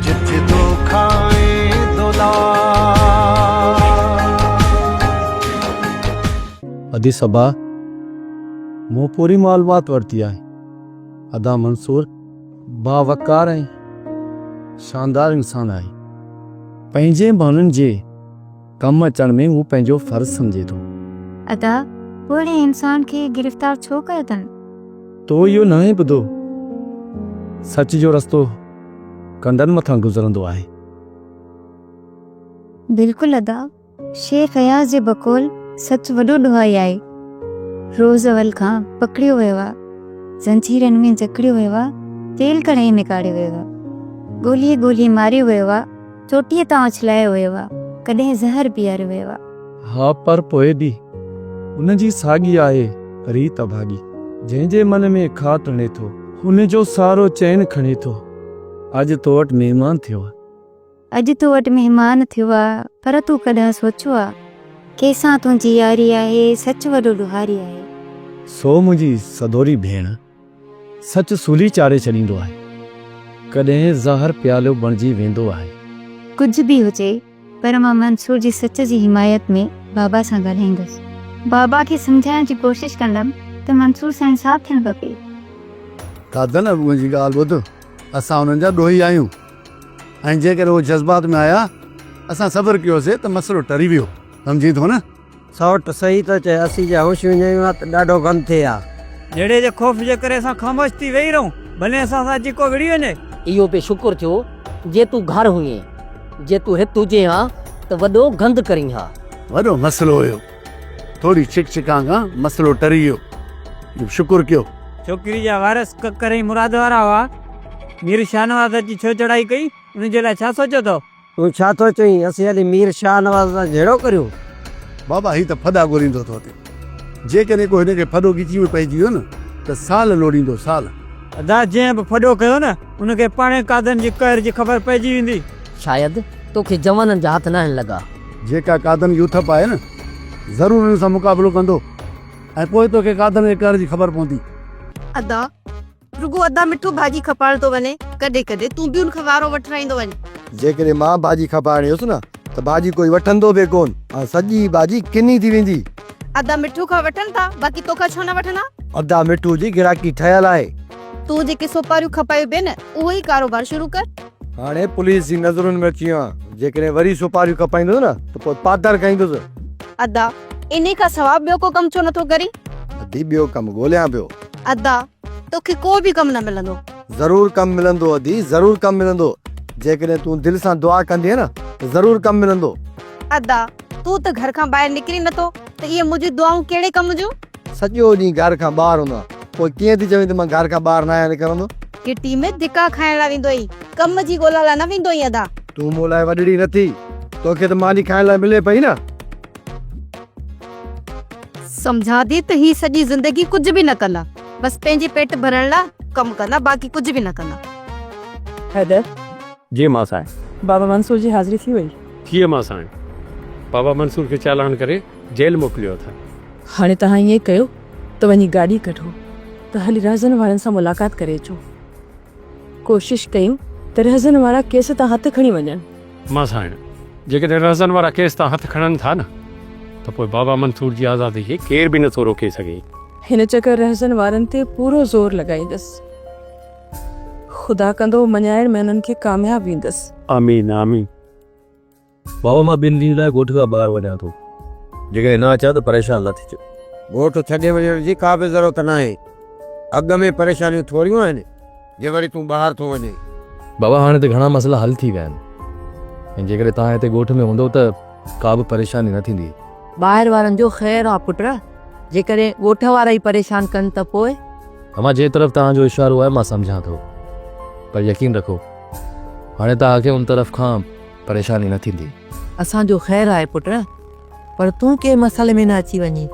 جت دوکا ۽ دولار. ادي صبا مون پوري معلومات ورتي آهي ادا منصور باوقار ۽ شاندار انسان آهي پنهنجي ماڻهن جي. ڪم اچڻ ۾ هو پنهنجو فرض سمجهي ٿو. ادا پوڙهي انسان کي گرفتار ڇو ڪيو اٿن؟ تو اهو ناهي ٻڌو سچ جو رستو ڪنڊن مٿان گذرندو آهي. بلڪل ادا شيخ اياز جي بقول سچ وڏو ڏوهائي آهي روز اول کان پڪڙيو ويو آ زنجيرن ۾ جڪڙيو ويو آ تيل ڪڙهائي ۾ ڪاڙهيو ويو آ ڳولي ڳولي ماريو ويو آ. چوٽيء تان اڇلايو ويو آ. ڪڏهن زهر پياريو ويو آ. ها پر پوء به هن جي ساڳي آهي ريت اڀاڳي. جنهن جي من ۾ کاهه تڻي ٿو. هن جو سارو چين کڻي ٿو. اڄ تو وٽ مهمان ٿيو آ. اڄ تو وٽ مهمان ٿيو آ. پر تون ڪڏهن سوچيو آ. ڪنهن سان تنهنجي ياري آهي. سچ وڏو ڏوهاري آهي. سو منهنجي سڌوري ڀيڻ. سچ سولي چاڙهي ڇڏيندو آهي. ڪڏهن زهر پيالو بڻجي ويندو آهي. ڪجهه به هجي پر مان منصور جي سچ جي حمايت ۾ بابا سان ڳالهائيندس. بابا کي سمجهائڻ جي ڪوشش ڪندم ته منصور سان انصاف ٿيڻ کپي. دادن ۽ ابوء جي ڳالهه ٻڌ، اسان انهن جا ڏوهي آهيون ۽ جيڪڏهن اهي جذبات ۾ آيا، اسان صبر ڪيوسي ته مسئلو ٽري ويو، سمجهين ٿو نه؟ سئوٽ، صحيح ٿو چئين، اسين جي هوش وڃايون ها ته ڏاڍو غم ٿئي ها. جهيڙي جي خوف جي ڪري اسان خاموش ٿي ويهي رهون، ڀلين اسان سان اچي ڪو وڙهي وڃي. اهو به شڪر ٿيو جي تون گهر هئين، جي تون هت هجين ها ته وڏو گند ڪرين ها. وڏو مسئلو هيو، ٿوري ڇڪ ڇڪان کان مسئلو ٽري ويو، اهو به شڪر ڪيو. ڇوڪري جا وارث ڪڪر ۽ مراد وارا هئا، مير شاهنواز اچي ڇو چڙهائي ڪئي، ان جي لاء ڇا سوچيو اٿئو؟ تون ڇا ٿو چوين؟ اسين هلي مير شاهنواز سان جهيڙو ڪريون؟ بابا هي ته ڦڏا ڳوليندو ٿو اٿي. جيڪڏهن ڪو هن کي ڦڏو ڳچيء ۾ پئجي ويو نه ته سال لوڙيندو، سال. ادا جنهن به ڦڏو ڪيو نه ان کي پاڻهي قاضن جي قهر جي خبر پئجي ويندي. شايد توکي جوانن جا هٿ ناهن لڳا. جيڪا قاضن جي اٿپ آهي نه ضرور ان سان مقابلو ڪندو ۽ پوء توکي قاضن جي قهر جي خبر پوندي. ادا! رڳو ادا مٺو ڀاڄي کپائڻ ٿو وڃي ڪڏهن ڪڏهن تون به ان کان وارو وٺرائيندو وڃ. جيڪڏهن مان ڀاڄي کپائڻ ايس نه ته ڀاڄي ڪوئي وٺندو به ڪون ۽ سڄي ڀاڄي ڪني ٿي ويندي. ادا مٺو کان وٺن ٿا باقي توکان ڇو نه وٺندا. ادا مٺو جي گراڪي ٺهيل آهي. تون جيڪي سوپاريون کپايون پئي نه اهو ئي ڪاروبار شروع ڪر. هاڻي پوليس جي نظرن ۾ اچي ويو آهيان جيڪڏهن وري سوپاريون کپائيندس نه ته پوء پاتر کائيندس. ادا انهي کان سوا ٻيو ڪو ڪم ڇو نٿو ڪرين؟ ادي ٻيو ڪم ڳوليان پيو. ادا توکي ڪو به ڪم نه ملندو. ضرور ڪم ملندو ادي ضرور ڪم ملندو جيڪڏهن تون دل سان دعا ڪندينء نه ته ضرور ڪم ملندو. ادا تون ته گهر کان ٻاهر نڪرين نٿو ته اهي منهنجون دعائون ڪهڙي ڪم جون؟ سڄو ڏينهن گهر کان ٻاهر هوندو آهيان پوء ڪيئن ٿي چوين ته مان گهر کان ٻاهر ناهيان نڪرندو. گهٽي ۾ ڌڪا کائڻ لاء ويندو آهين ڪم جي ڳولا لاء نه ويندو آهين ادا. تون مون لاء وڏڙي نٿي توکي ته ماني کائڻ لاء ملي پئي نه. سمجهان ٿي ته هي سڄي زندگي ڪجهه به نه ڪندا بس پنهنجي پيٽ ڀرڻ لاء ڪم ڪندا باقي ڪجهه به نه ڪندا. حيدر. جي مان سائين. بابا منصور جي حاضري ٿي وئي. ٿي مان سائين. بابا منصور کي چالان ڪري جيل موڪليو اٿن. هاڻي توهان ائين ڪيو ته وڃي گاڏي ڪڍو ته هلي رهزن وارن سان ملاقات ڪري اچو. ڪوشش ڪيون ته رهزن وارا ڪيس تان هٿ کڻي وڃن. مان سائڻ جيڪڏهن رهزن وارا ڪيس تان هٿ کڻن ٿا نه ته پوء بابا منصور جي آزادي کي ڪير به نٿو روڪي سگهي. هن چڪر رهزن وارن تي پورو زور لڳائيندس. خدا ڪندو مڃائڻ ۾ انهن کي ڪامياب ويندس. آمين آمين بابا مان ٻن ڏينهن لاء ڳوٺ کان ٻاهر وڃان ٿو جيڪڏهن نه اچان ته پريشان نه ٿجو. ڳوٺ ڇڏي وڃڻ جي ڪا به ضرورت ناهي اڳ ۾ پريشانيون ٿوريون آهن. جي وري تون ٻاهر ٿو وڃين. بابا هاڻي ته گهڻا مسئلا حل ٿي ويا آهن ۽ جيڪڏهن توهان هتي ڳوٺ ۾ هوندو ته ڪا به پريشاني نه ٿيندي. ٻاهر وارن جو خير آ پٽ، جيڪڏهن ڳوٺ وارا ئي پريشان ڪن ته پوء؟ امان جنهن طرف توهان جو اشارو آهي مان سمجهان ٿو پر يقين رکو هاڻي توهان کي ان طرف کان پريشاني نه ٿيندي. اسان جو خير آهي پٽ، پر تون ڪنهن مسئلي ۾ نه اچي وڃين.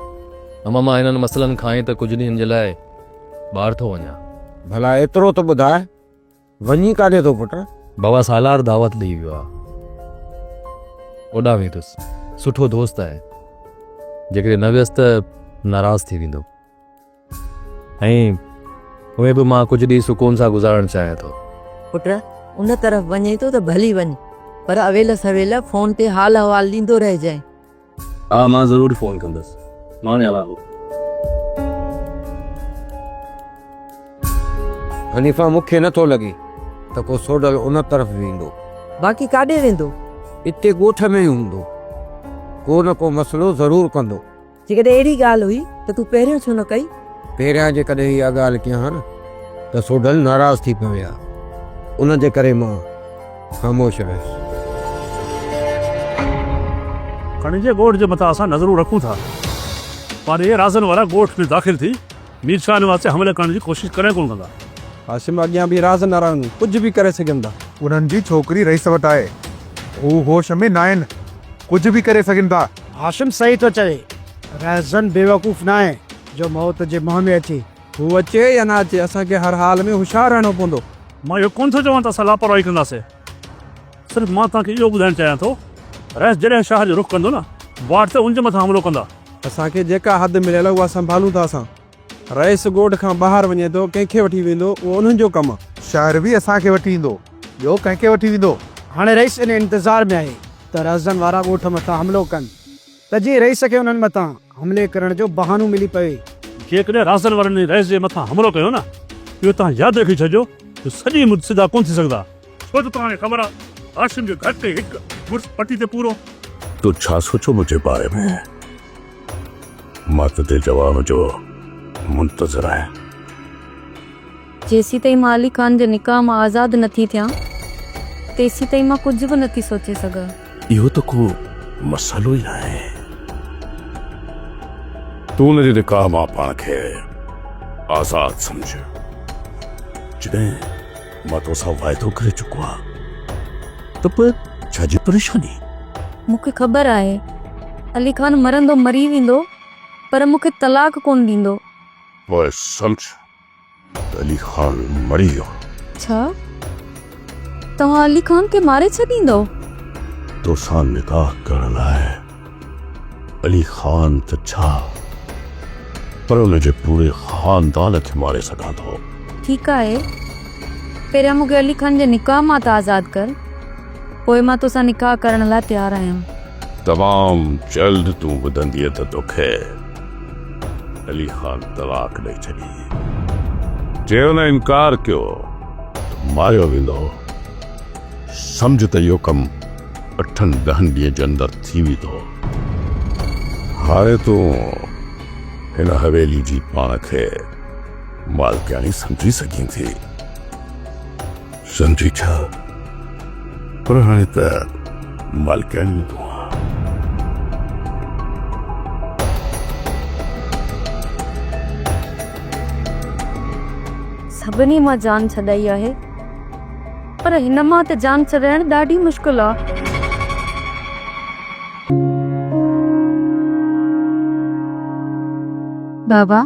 امان مان هنن مسئلن کان ئي ته ڪجهه ڏينهن جي لاء. ٻاهر ٿو وڃان. ڀلا ايترو ته ٻڌاء وڃين ڪاڏي ٿو پٽ؟ بابا سالار دعوت ڏيئي ويو آهي. اوڏانهن ويندس. سٺو دوست آهي. جيڪڏهن نه ويس ته ناراض ٿي ويندو. ۽ اونئين به مان ڪجهه ڏينهن سڪون سان گذارڻ چاهيان ٿو. پٽ ان طرف وڃين ٿو ته ڀلي وڃ. پر اويل سويل فون تي حال احوال ڏيندو رهجانء. ها مان ضرور فون ڪندس مان هلان ٿو. حنيفه مون کي نٿو لڳي ته ڪو سوڍل ان طرف ويندو. باقي ڪاڏي ويندو؟ اتي ڳوٺ ۾ ئي هوندو. ڪو نه ڪو مسئلو ضرور ڪندو. جيڪڏهن اهڙي ڳالهه هئي ته تون پهريون ڇو نه ڪئي؟ پهريان جيڪڏهن اها ڳالهه ڪيان ها نه ته سوڍل ناراض ٿي پوي ها ان جي ڪري مان. خاموش آهيس. کڻي جي ڳوٺ جي مٿان اسان نظرون رکون ٿا پر اهي رازن وارا ڳوٺ ۾ داخل ٿي مير شاهه نواز تي حملي ڪرڻ جي ڪوشش ڪڏهن ڪونه ڪندا. هاشم اڳيان به رازن وارا ڪجهه به ڪري سگهن ٿا. انهن جي ڇوڪري رئيس وٽ آهي هو هوش ۾ ناهن ڪجهه به ڪري سگهن ٿا. هاشم صحيح ٿو چوي رازن بيوقوف ناهي جو موت جي منهن ۾ اچي هو اچي يا نه اچي، اسان کي هر حال ۾ هوشيار رهڻو پوندو. مان اهو ڪونه ٿو چوان ته اسان لاپرواهي ڪنداسين. صرف مان توهان کي اهو ٻڌائڻ چاهيان ٿو، رئيس جڏهن شهر جو رخ ڪندو نه، واٽ تي ان جي مٿان حملو ڪندا. اسان کي جيڪا حد مليل آهي، اها سنڀالون ٿا اسان. رئيس ڳوٺ کان ٻاهر وڃي ٿو، ڪنهن کي وٺي ويندو، اهو انهن جو ڪم آهي. شهر به اسان کي وٺي ايندو، ٻيو ڪنهن کي وٺي ويندو؟ هاڻي رئيس انهيء انتظار ۾ آهي ته رهزن وارا ڳوٺ مٿان حملو ڪن. ته جيئن رئيس کي انهن مٿان حملي ڪرڻ جو بهانو ملي پوي. جيڪڏهن رازن وارن انهي رئيس جي مٿان حملو ڪيو نه اهو توهان ياد رکي ڇڏجو جو سڄي مد سڌا ڪونه ٿي سگهندا. ڇو ته توهان کي خبر آ هاشم جو گهٽ ۾ هڪ مڙس پٽي تي پورو. تو ڇا سوچيو منهنجي باري ۾؟ مان تنهنجي جواب جو منتظر آهيان. جيسيتائين مان علي خان جي نڪاح مان آزاد نه ٿي ٿيان، تيسيتائين مان ڪجهه به نه ٿي سوچي سگهان. اهو ته ڪو مسئلو ئي ناهي. تون ان جي نڪاح مان پاڻ کي آزاد سمجهه، جڏهن مان تو سان واعدو ڪري چڪو آهيان ته پوء ڇا جي پريشاني؟ مون کي خبر آهي، علي خان مرندو مري ويندو، پر مون کي طلاق ڪونه ڏيندو. پوء سمجهه ته علي خان مري ويو. ڇا؟ توهان علي خان کي ماري ڇڏيندؤ؟ توسان نڪاح ڪرڻ لاء علي خان ته ڇا پر ان جي پوري خاندان کي ماري سگهان ٿو. ٺيڪ آهي، پهريان مون کي علي خان جي نڪاح مان ته آزاد ڪر، پوء مان توسان نڪاح ڪرڻ لاء تيار آهيان. تمام جلد تون ٻڌندينء ته توکي. علي خان طلاق ڏئي ڇڏي. جي هن انڪار ڪيو ته ماريو ويندو. سمجهه ته اهو ڪم اٺن ڏهن ڏينهن جي اندر ٿي ويندو. هاڻي تون هن حويلي جي پاڻ کي مالڪياڻي سمجهي سگهين ٿي. سمجهي ڇا؟ پر هاڻي ته مالڪياڻيون تون آن. سڀني مان جان ڇڏائي آهي. پر هن مان ته جان ڇڏائڻ ڏاڍي مشڪل آ. بابا!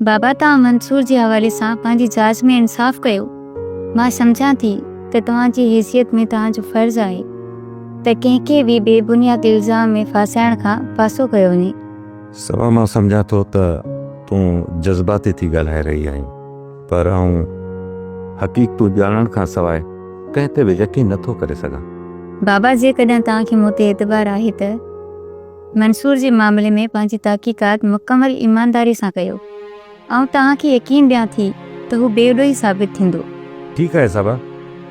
بابا توهان منصور جي حوالي سان پنهنجي جاچ ۾ انصاف ڪيو. مان سمجهان ٿي ته توهان جي حيثيت ۾ توهان جو فرض آهي ته ڪنهن کي به بي بنياد الزام ۾ ڦاسائڻ کان پاسو ڪيو وڃي. سوا مان سمجهان ٿو ته تون جذباتي ٿي ڳالهائي رهي آهين پر آئون حقيقتون ڄاڻڻ کان سواء ڪنهن تي به يقين نٿو ڪري سگهان. بابا جيڪڏهن توهان کي مون تي اعتبار آهي ته. منصور جي معاملي ۾ پنهنجي تحقيقات مڪمل ايمانداري سان ڪيو. آئون توهان کي يقين ڏيان ٿي ته هو بي ڏوهي ثابت ٿيندو. ٺيڪ آهي صاحبه،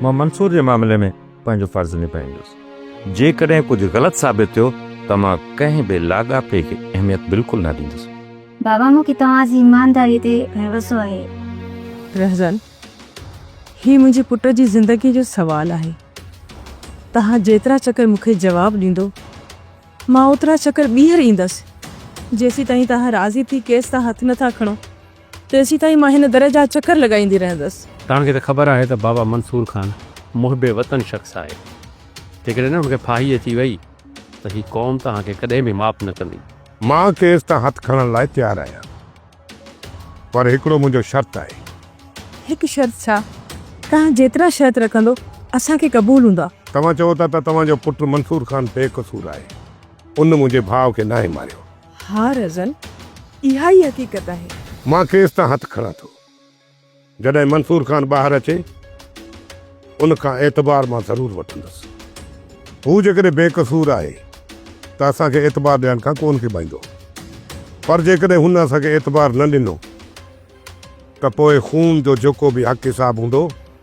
مان منصور جي معاملي ۾ پنهنجو فرض نڀائيندس. جيڪڏهن ڪجهه غلط ثابت ٿيو ته مان ڪنهن به لاڳاپي کي اهميت بلڪل نه ڏيندس. بابا مون کي توهان جي ايمانداري تي ڀروسو آهي. رهزن، هي منهنجي پٽ جي زندگي جو سوال آهي. توهان جيترا چڪر مون کي جواب ڏيندو. مان اوترا چڪر ٻيهر ايندس، جيسيتائين توهان راضي ٿي ڪيس تان هٿ نٿا کڻو، تيسيتائين مان هن در جا چڪر لڳائيندي رهندس. توهان کي ته خبر آهي ته بابا منصور خان محب وطن شخص آهي. جيڪڏهن هن کي ڦاهي اچي وئي ته هي قوم توهان کي ڪڏهن به معاف نه ڪندي. مان ڪيس تان هٿ کڻڻ لاء تيار آهيان. پر هڪڙو منهنجو شرط آهي. هڪ شرط ڇا؟ توهان جيترا شرط رکندو اسان کي قبول هوندا. توهان چئو ٿا ته توهان جو پٽ منصور خان بي قصور آهي. ان منهنجي ڀاء کي ناهي ماريو. ها رزن، اها ئي حقيقت آهي. مان کيس تان هٿ کڻان ٿو. جڏهن منصور خان ٻاهر اچي، ان کان اعتبار مان ضرور وٺندس. هو جيڪڏهن بي قصور آهي ته اسان کي اعتبار ڏيڻ کان ڪونه ڪيٻائيندو، پر جيڪڏهن هن اسان کي اعتبار نه ڏنو ته پوء خون جو جيڪو به حق حساب هوندو،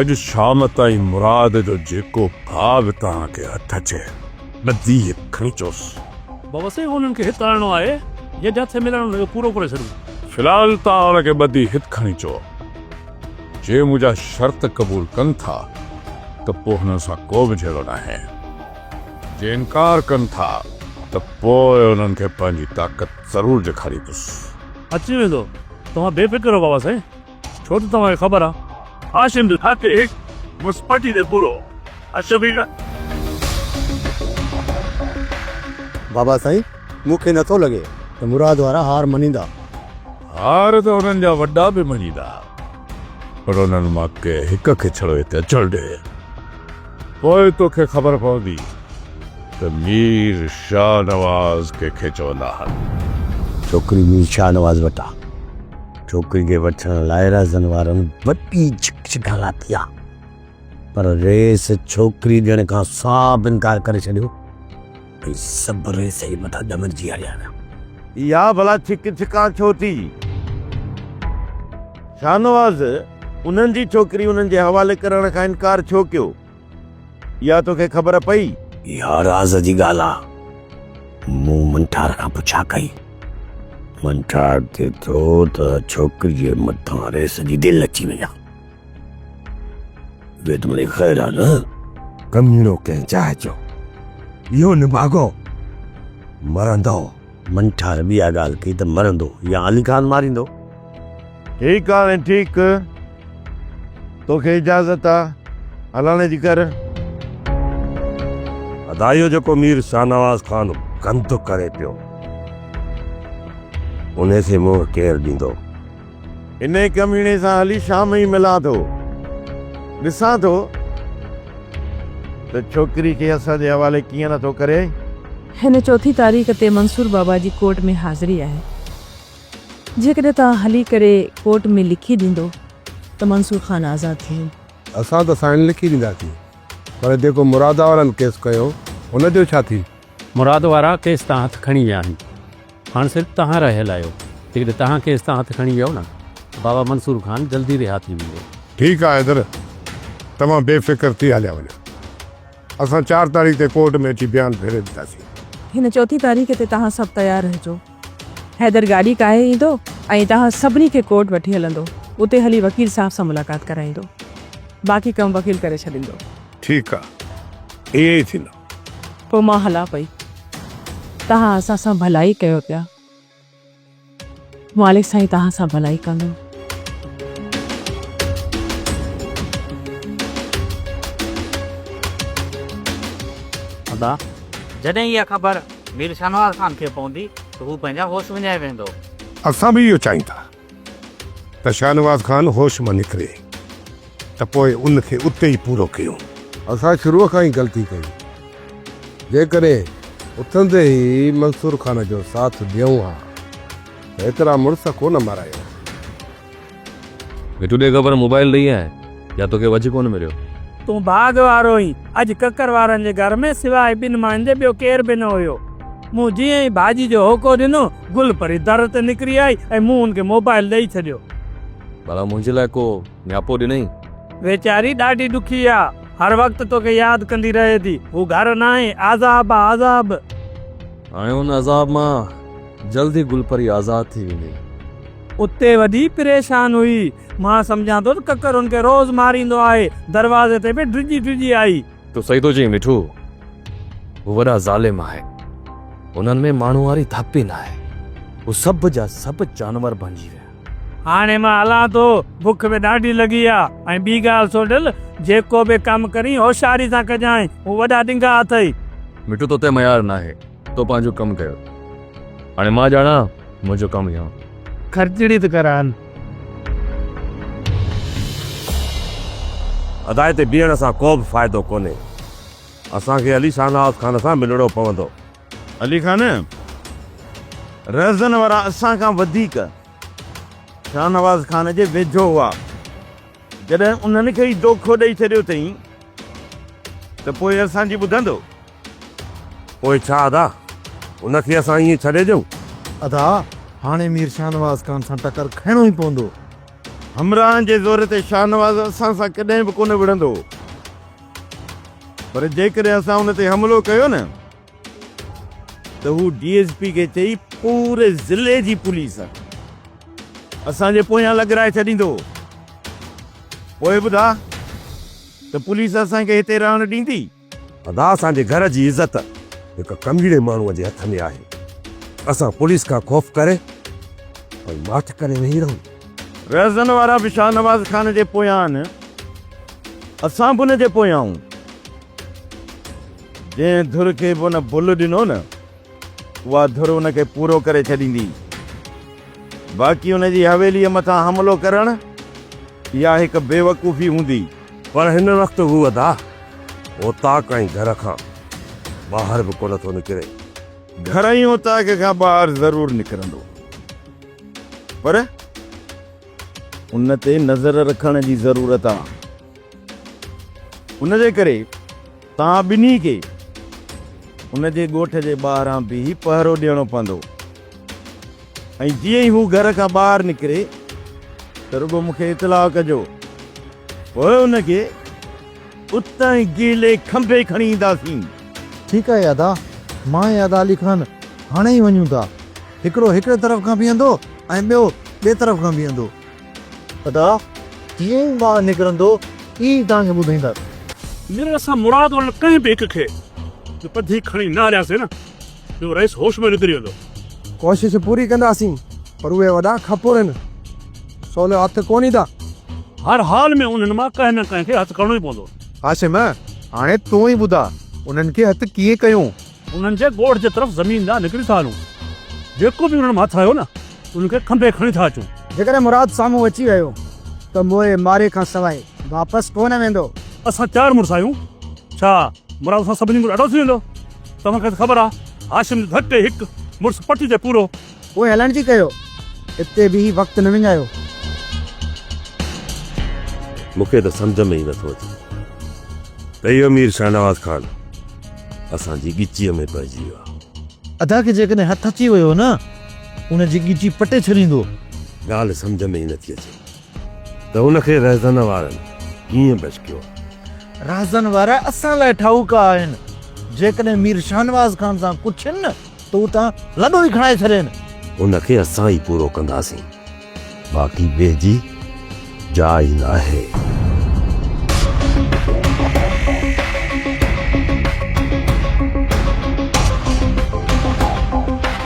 اڄ شام تائين مراد جو جيڪو ڀاء به توهان کي هٿ اچي، ٻڌي هڪ کڻي چوس. بوسي هونئن کي هت آڻڻو آهي، جنهن تي هٿ ملڻ هن جو پورو ڪري ڇڏيون. في الحال توهان هن کي ٻڌي هت کڻي چئو. جي منهنجا شرط قبول ڪن ٿا ته پوء هنن سان ڪو به جهيڙو ناهي. جي انڪار ڪن ٿا ته پوء هنن کي پنهنجي طاقت ضرور ڏيکاريندس. اچي ويندو. توهان بي فڪر رهو بابا سائين. ڇو ته توهان کي خبر آ هاشم جو هر ٽيڪ مس پٽي تي پورو آ شفيقه. بابا سائين مون کي نٿو لڳي ته مراد وارا هار مڃيندا. هار ته انهن جا وڏا به مڃيندا پر انهن مان ڪنهن هڪ کي ڇڙو هتي اچڻ ڏي پوء توکي خبر پوندي ته مير شاهنواز ڪنهن کي چوندا آهن. ڇوڪري مير شاهنواز وٽ آ. ڇوڪري کي وٺڻ لاء رازن وارن وڏي جھڪ جھڪ ھلاتي آ پر ريس ڇوڪري ڏيڻ کان صاف انڪار ڪري ڇڏيو ۽ سڀ ريس جي مٿان ڏمرجي ھليا ويا. اھا ڀلا ڇڪ ڇڪان ڇو ٿي؟ شاھنواز انھن جي ڇوڪري انھن جي حوالي ڪرڻ کان انڪار ڇو ڪيو؟ اها توکي خبر پئي؟ اها راز جي ڳالهه آ. مون منٺار کان پڇا ڪئي. منٺار چئي ٿو ته ڇوڪريء مٿان ريس جي دل اچي وئي آ. ويد مڙئي خير آ نه؟ ڪميڻو ڪنهن چاهه جو اهو نڀاڳو مرندو. منٺار به اها ڳالهه ڪئي ته مرندو يا علي خان ماريندو. ٺيڪ آ وين ٺيڪ. توکي اجازت آ هلڻ جي ڪر. ادا اهو جيڪو مير شاهنواز خان گند ڪري پيو انهي کي منهن ڪير ڏيندو. انهيء ڪميڻي سان هلي شام ئي ملان ٿو. ڏسان ٿو ته ڇوڪري کي اسان جي حوالي ڪيئن نه ٿو ڪري. هن چوٿين تاريخ تي منصور بابا جي ڪورٽ ۾ حاضري آهي. جيڪڏهن توهان هلي ڪري ڪورٽ ۾ لکي ڏيندو ته منصور خان آزاد ٿي ويندو. اسان ته سائين لکي ڏينداسين پر جيڪو مرادآ وارن ڪيس ڪيو ان جو ڇا ٿي؟ مراد وارا ڪيس تان هٿ کڻي ويا آهن هاڻ صرف تهان رهيل آهيو جيڪڏهن تهان ڪيس تان هٿ کڻي ويئو نه ته بابا منصور خان جلدي رها ٿي ويندو. ٺيڪ آ حيدر توهان بي فڪر ٿي هليا وڃو اسان چار تاريخ تي ڪورٽ ۾ اچي بيان ڦيري ڏينداسين. هن چوٿين تاريخ تي توهان سڀ تيار رهجو حيدر گاڏي ڪاهي ايندو ۽ توهان سڀني کي ڪورٽ وٺي هلندو اتي هلي وڪيل صاحب سان ملاقات ڪرائيندو باقي ڪم وڪيل ڪري ڇڏيندو. ٺيڪ آ ائين ئي ٿيندو. پوء مان هلان پئي. توهان اسان سان ڀلائي ڪيو پيا. مالڪ سائين توهان سان ڀلائي ڪندو. ادا، جڏهن اها خبر مير شاهنواز خان کي پوندي ته هو پنهنجا هوش وڃائي ويندو. اسان به اهو چاهيون ٿا. ته شاهنواز خان هوش مان نڪري ته پوء ان کي اتي ئي پورو ڪيون. اسان شروع کان ئي غلطي ڪئي. جيڪڏهن اٿندي ئي منصور خان جو ساٿ ڏيون ها ته ايترا مڙس ڪونه مارائي هاسين. مٺو ڏي خبر موبائل ڏئي آء. يا توکي وجهه ڪونه مليو. تون ڀاڳ وارو هئين. اڄ ڪڪر وارن جي گهر ۾ سواء ٻن ماين جي ٻيو ڪير به نه هيو. مون جيئن ئي ڀاڄي جو هوڪو ڏنو، گل پري در تي نڪري آئي ۽ مون هن کي موبائل ڏئي ڇڏيو. ڀلا منهنجي لاء ڪو نياپو ڏنئي؟ ويچاري ڏاڍي ڏکي آ. هر وقت توکي ياد ڪندي رهي ٿي. هو گهر ناهي. عذاب آ عذاب. هاڻي ان عذاب مان جلد ئي گل پري آزاد ٿي ويندي. اتي وڏي پريشان هئي. مان سمجهان ٿو ته ڪڪر هن کي روز ماريندو آهي. دروازي تي به ڊڄي ڊڄي آئي. تو صحيح ٿو چئين مٺو. هو وڏا ظالم آهن. هنن ۾ ماڻهو واري ڌپ ئي ناهي. هو سڀ جا سڀ جانور بڻجي ويا. هاڻي مان هلان ٿو. بک به ڏاڍي لڳي آ. ۽ ٻي ڳالهه سوڍل، جيڪو به ڪم ڪرين هوشياري سان ڪجانء. هو وڏا ڏنگا اٿئي. مٺو توتي ميار ناهي. تو پنهنجو ڪم ڪيو هاڻي مان ڄاڻان منهنجو ڪم يا. خرچڙي ته ڪران. ادائي تي بيهڻ سان ڪو به فائدو ڪونهي. اسان کي علي شاهنواز خان سان ملڻو پوندو. علي خان، رهزن وارا اسان کان وڌيڪ شاهنواز خان جي ويجهو هئا. جڏهن انهن کي ئي دوکو ڏئي ڇڏيو اٿئي ته پوء اسان جي ٻڌندو؟ پوء ڇا ادا، ان کي اسان ائين ڇڏي ڏيون؟ ادا، هاڻي مير شاهنواز خان سان ٽڪر کائڻو ئي پوندو. همراهن جي زور تي شاهنواز اسان سان ڪڏهن به ڪونه وڙهندو. پر جيڪڏهن اسان ان تي حملو ڪيو نه ته هو ڊي ايس پي کي چئي پوري ضلعي جي پوليس اسان جي پويان لڳرائي ڇڏيندو. پوء ٻڌاء ته پوليس اسان کي هتي رهڻ ڏيندي؟ ادا اسان جي گهر جي عزت هڪ ڪميڙي ماڻهو جي هٿ ۾ آهي اسان پوليس کان خوف ڪري ۽ ماٺ ڪري ويهي رهون. رهزن وارا به شاهنواز خان جي پويان آهن اسان به ان جي پويان آهون جنهن ڌر کي به ان ڀل ڏنو نه. اها ڌر ان کي پورو ڪري ڇڏيندي. باقي ان جي حويليء مٿان حملو ڪرڻ، اها هڪ بيوقوفي هوندي. پر هن وقت هو ادا اوطاق ۽ گهر کان ٻاهر به ڪونه ٿو نڪري. گهر ۽ اوطاق کان ٻاهر ضرور نڪرندو، پر ان تي نظر رکڻ جي ضرورت آ. ان جي ڪري. توهان ٻنهي کي هن جي ڳوٺ جي ٻاهران بيهي پهرو ڏيڻو پوندو ۽ جيئن ئي هو گهر کان ٻاهر نڪري ته رڳو مون کي اطلاع ڪجو. پوء هن کي اتان ئي گيلي کنڀي کڻي اينداسين. ٺيڪ آهي ادا. مان ۽ ادا علي خان هاڻي ئي وڃون ٿا. هڪڙو هڪڙي طرف کان بيهندو ۽ ٻيو ٻئي طرف کان بيهندو. خدا ڪيئن ٻاهر نڪرندو اي توهان کي ٻڌائيندس. مير اسان مراد وارن ڪنهن به هڪ کي به پڌي کڻي نه هلياسين نه جو رئيس هوش مان نڪري ويندو. ڪوشش پوري ڪنداسين پر اهي وڏا کپور هن سولو هٿ ڪونه ڏيندا. هر حال ۾ انهن مان ڪنهن نه ڪنهن کي هٿ ڪرڻو ئي پوندو. هاشم هاڻي تون ئي ٻڌاء انهن کي هٿ ڪيئن ڪيون. انهن جي ڳوٺ جي طرف زمين ڏانهن نڪري ٿا هلون. جيڪو به انهن مان هٿ آيو نه، ان کي کنڀي کڻي ٿا اچون. جيڪڏهن مراد سامهون اچي ويو ته موئي ماري کان سواء واپس ڪو نه ويندو. اسان چار مڙس آهيون، ڇا مراد اسان سڀني کان ڏاڍو ٿي ويندو؟ توهان کي ته خبر آهي، هاشم جو ڌڪ ڏئي هڪ مڙس پٽي تي پورو. پوء هلڻ جي ڪيو. اتي بيهي وقت نه وڃايو. مون کي ته سمجهه ۾ ئي نه ٿو اچي ته اهو مير شاهنواز خان اسان جي ڳچيء ۾ پئجي ويو آهي. ادا کي جيڪڏهن هٿ اچي ويو نه، ان جي ڳچي پٽي ڇڏيندو. ڳالهه سمجهه ۾ ئي نه ٿي اچي. ته ان کي رهزن وارن ڪيئن ڀشڪيو؟ رهزن وارا اسان لاء ٺاهوڪا آهن، جيڪڏهن مير شاهنواز خان سان پڇين نه ته اتان لڏو ئي کڻائي ڇڏين. ان کي اسان ئي پورو ڪنداسين، باقي ٻئي جي جاء ئي ناهي.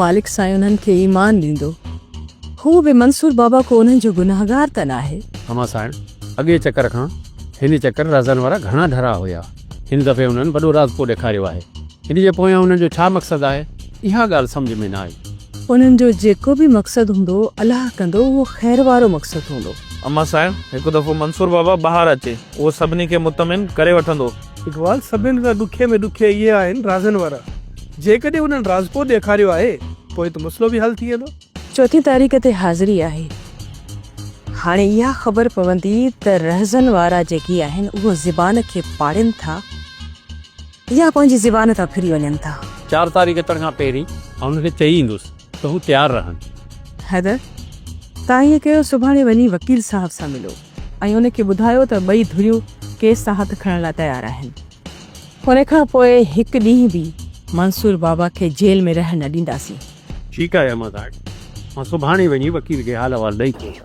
مالڪ سائين انهن کي ايمان ڏيندو. هو به منصور بابا ڪو انهن جو گنهگار ته ناهي. هما سائڻ، اڳئين چڪر کان هن چڪر رازن وارا گهڻا ڍرا هيا. هن دفعي انهن وڏو راز ڪو ڏيکاريو آهي. ان جي پويان انهن جو ڇا مقصد آهي، اها ڳالهه سمجهه ۾ نه آئي. انهن جو جيڪو به مقصد هوندو، الله ڪندو اهو خير وارو مقصد هوندو. هما سائڻ، هڪ دفعو منصور بابا ٻاهر اچي، اهو سڀني کي مطمئن ڪري وٺندو. اقبال، سڀني کان ڏکي ۾ ڏکي اهي آهن رازن وارا. جيڪڏهن انهن رازپور ڏيکاريو آهي، پوء ته مسئلو به حل ٿي ويندو. چوٿين تاريخ تي حاضري آهي. هاڻي اها خبر پوندي ته رهزن وارا جيڪي آهن، اهو زبان کي پاڙين ٿا يا پنهنجي زبان تان ڦري وڃن ٿا. چار تاريخ اچڻ کان پهرين آئون هن کي چئي ايندس ته هو تيار رهن. حيدر، تان ائين ڪيو، سڀاڻي وڃي وڪيل صاحب سان ملو. ۽ ان کي ٻڌايو ته ٻئي ڌريون ڪيس تان هٿ کڻڻ لاء تيار آهن. ان کان پوء هڪ ڏينهن به منصور بابا کي جيل ۾ رهڻ نه ڏينداسين. ٺيڪ آهي احمد آٽ، مان سڀاڻي وڃي وڪيل کي حال احوال ڏئي اچان ٿو.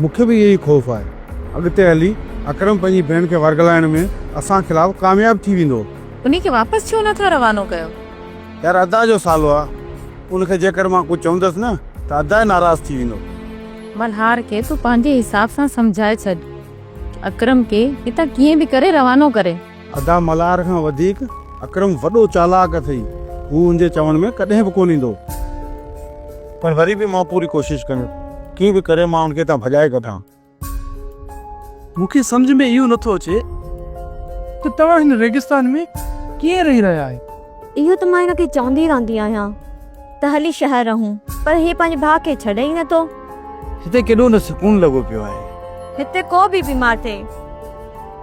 مون کي به اهو ئي خوف آهي اڳتي هلي اڪرم پنهنجي ڀيڻ کي ورغلائڻ ۾ اسان خلاف ڪامياب ٿي ويندو. انهي کي واپس ڇو نه ٿا روانو ڪيو؟ يار ادا جو سالو آ ان کي جيڪر مان ڪجهه چوندس نه ته ادا ئي ناراض ٿي ويندو. ملهار کي تون پنهنجي حساب سان سمجهائي ڇڏ اڪرم کي هتان ڪيئن به ڪري روانو ڪري. ادا ملهار کان وڌيڪ اڪرم وڏو چالاڪ اٿئي هو هن جي چوڻ ۾ ڪڏهن به ڪونه ايندو پر وري به مان پوري ڪوشش ڪندس ڪيئن به ڪري مان هن کي هتان ڀڄائي ڪڍان. مون کي سمجهه ۾ اهو نٿو اچي ته توهان هن ريگستان ۾ ڪيئن رهي رهيا آهيو. اهو ته مان هن کي چوندي رهندي آهيان. ته هلي شهر رهون. پر هي پنهنجي ڀاء کي ڇڏي ئي نٿو. هتي ڪيڏو نه سڪون لڳو پيو آهي. هتي ڪو به بيمار ٿئي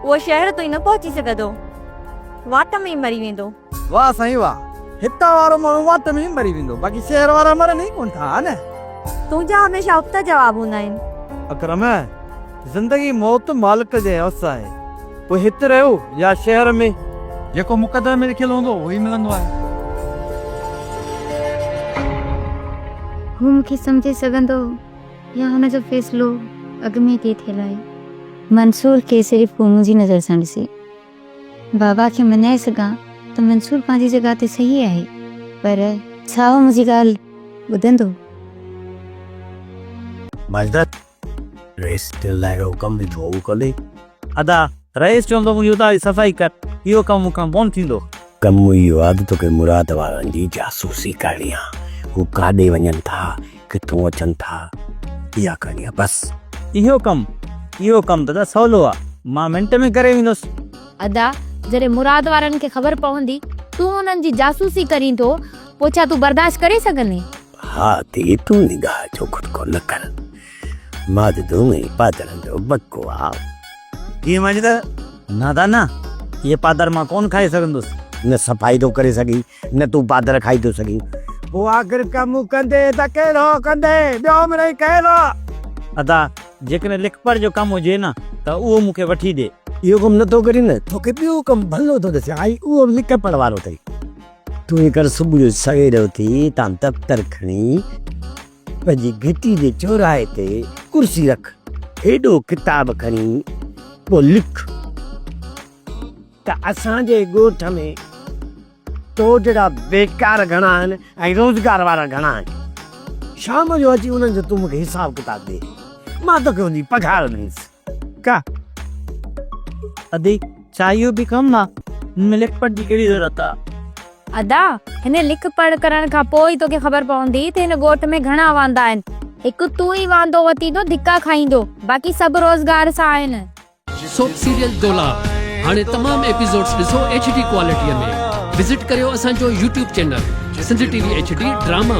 اهو شهر تائين نه پهچي سگهندو. واٽ ۾ ئي مري ويندو. واه سائين واه. هتان وارو ماڻهو واٽ ۾ ئي مري ويندو. باقي شهر وارا مرن ئي ڪونه ٿا ها نه. تنهنجا هميشه ابتا جواب هوندا آهن. اڪرم. زندگي موت مالڪ جي وس آهي. پوء هت رهيو يا شهر ۾. جيڪو مقدر ۾ لکيل هوندو اهو ئي ملندو آهي. هو مون کي سمجهي سگهندو يا هن جو فيصلو اڳ ۾ طئي ٿيل آهي. منصور کي صرف ڪو منهنجي نظر سان ڏسي. بابا کي مڃائي سگهان ته منصور پنهنجي جڳهه تي صحيح آهي پر. ڇا هو منهنجي ڳالهه ٻڌندو؟ ماجده رئيس تنهن لاء اهو ڪم ڏنو اهو ڪندي؟ ادا! رئيس چوندو هو يودا جي صفائي ڪر، اهو ڪم مون کان ڪونه ٿيندو. ڪم اهو آهي ته توکي مراد وارن جي جاسوسي ڪرڻي آهي، هو ڪاڏي وڃن ٿا، ڪٿون اچن ٿا، اها ڪرڻي آهي بس. اهو ڪم؟ اهو ڪم ته ادا سولو آهي، مان منٽ ۾ ڪري ويندس. ادا! جڏهن مراد وارن کي خبر پوندي تون انهن جي جاسوسي ڪرين ٿو، پوء ڇا تون برداشت ڪري سگهندين؟ ها ڌيء تون نگاهه جو کٽڪو نه ڪر. ماجدون ۽ پادرن جو بڪواس. ڌيء ماجده، نه دا نه، اهي پادر مان ڪونه کائي سگهندس. نه صفائي ٿو ڪري سگهين، نه تون پادر کائي ٿو سگهين. پوء آخر ڪم ڪندي ته ڪهڙو ڪندي، ٻيو مڙئي ڪهڙو. ادا، جيڪڏهن لکپڙهه جو ڪم هجي نه ته اهو مون کي وٺي ڏي. اهو ڪم نه ٿو ڪرين نه، توکي ٻيو ڪم ڀلو ٿو ڏسيان، ۽ اهو به لکپڙهه وارو اٿئي. تنهنجي ڪري صبح جو سوير اٿي تان دفتر کڻي پنهنجي گهٽي جي چوراهي تي ڪرسي رک هيڏو ڪتاب کڻي پو لک ته اسان جي ڳوٺ ۾ تو جهڙا بيڪار گهڻا آهن ۽ روزگار وارا گهڻا آهن شام جو اچي انهن جو تون مون کي حساب ڪتاب ڏي مان توکي ان جي پگهار ڏينس. ڪا ادي چاهيو به ڪم نه هن لک پڙهه جي ڪهڙي ضرورت آ ادا هن لک پڙهه ڪرڻ کان پوء ئي توکي خبر پوندي ته هن ڳوٺ ۾ گهڻا واندا آهن هڪ تون ئي وانڌو وتيندو ڌڪا کائيندو باقي سڀ روزگار سان آهن. سوپ سيريل دولهه هاڻي تمام ايپيسوڊس ڏسو ايڇ ڊي ڪوالٽيء ۾ وزٽ ڪريو اسان جو YouTube channel Sindh T V H D drama.